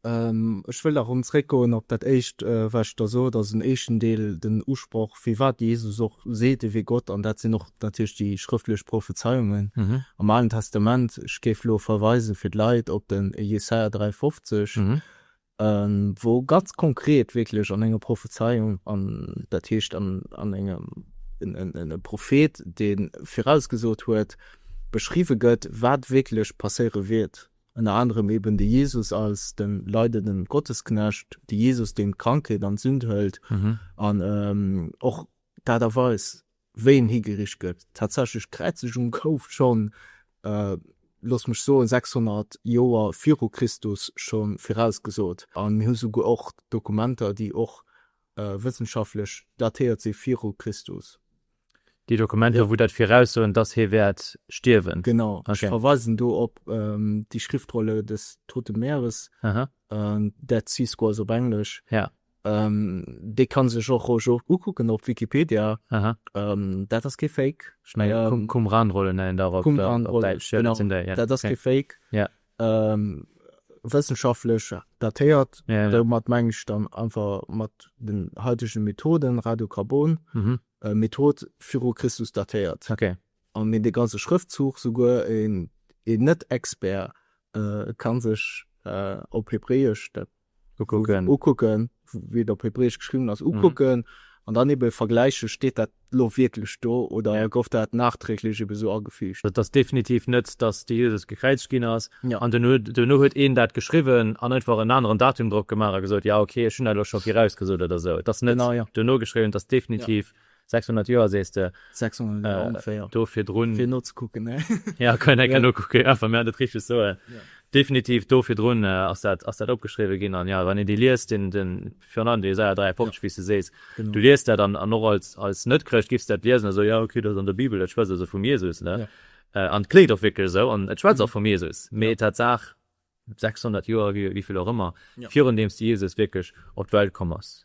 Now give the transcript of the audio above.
Ech wëll nach erëm zréckgoen op dat éischt, wat ech da sot, also den éischten Deel, den Usproch, firwat de Jesus och seet, E wier Gott, an dat sinn och natierlech déi schrëftlech Prophezeiungen am Alen Testament. Ech géif elo verweisen fir d'Leit op den Jesaja 53, wou ganz konkret wierklech an enger Prophezeiung, an dat heescht an engem, en Prophet, dee virausgesot huet, beschriwwe gëtt, wat wierklech passéiere wiert. Ënner anerem eben de Jesus als de leidenden Gottesknecht, de Jesus deen d'Krankheet an d'Sünd hëlt an och d'Aart a Weis wéi en higericht gëtt. Tatsächlech d'Kräizegung gouf schonn, looss mech soen, 600 Joer viru Christus schonn virausgesot an mir hu souguer och Dokumenter déi och wëssenschaftlech datéiert si viru Christus. Déi Dokumenter, wou dat viraussoen, dass hie wäert stierwen. Genau. Ech verweisen do op Die Schriftrolle des Toten Meeres, Dead Sea Scrolls op Englesch. Dee ka sech och roueg och ukucken op Wikipedia. Dat ass kee Fake. Qumran-Rollen nennen der op Däitsch. Dat ass kee Fake. Wëssenschaftlech datéiert, domat meng ech dann einfach mat den haitege Methoden, Radiokarbon, Method viru Christus datéiert. An dee ganze Schrëftzuch, souguer een Net-Expert ka sech op Hebräesch dat ukucken, ukucken, wéi et op Hebräesch geschriwwen ass, ukucken, an dann ebe vergläichen, steet dat elo wierklech do oder gouf dat nachträglech ebe sou agefüügt. Et ass definitiv net, datt de Jesus gekräizegt ginn ass an duerno huet een dat geschriwwen an einfach en aneren Datum drop gemaach a gesot, jo, okay, ech hunn dat elo scho virausgesot oder sou. Et ass net duerno geschriwwen, et ass definitiv 600 Joer sees de? 600 Joer ongeféier. Do virdrun. Fir nozekucken, ne? Jo, kann een eng Kéier nokucken. Jo, wann mir dat richteg soen. Definitiv do virdrun ass dat, ass dat opgeschriwwen ginn. An jo, wann een déi liest, deen, deen, virun allem dee Jesaja 53, wéi s de sees, du liest dat an, an och als, als Net-Chrëscht giffs dat liesen a soen, jo, okay, dat ass an der Bibel, dat schwätzt also vum Jesus, ne? An et kléngt och wierklech esou an et schwätzt och vum Jesus. Mee Tatsaach, 600 Joer, wéi, wéi vill och ëmmer, virun deem s de Jesus wierklech op d'Welt komm ass.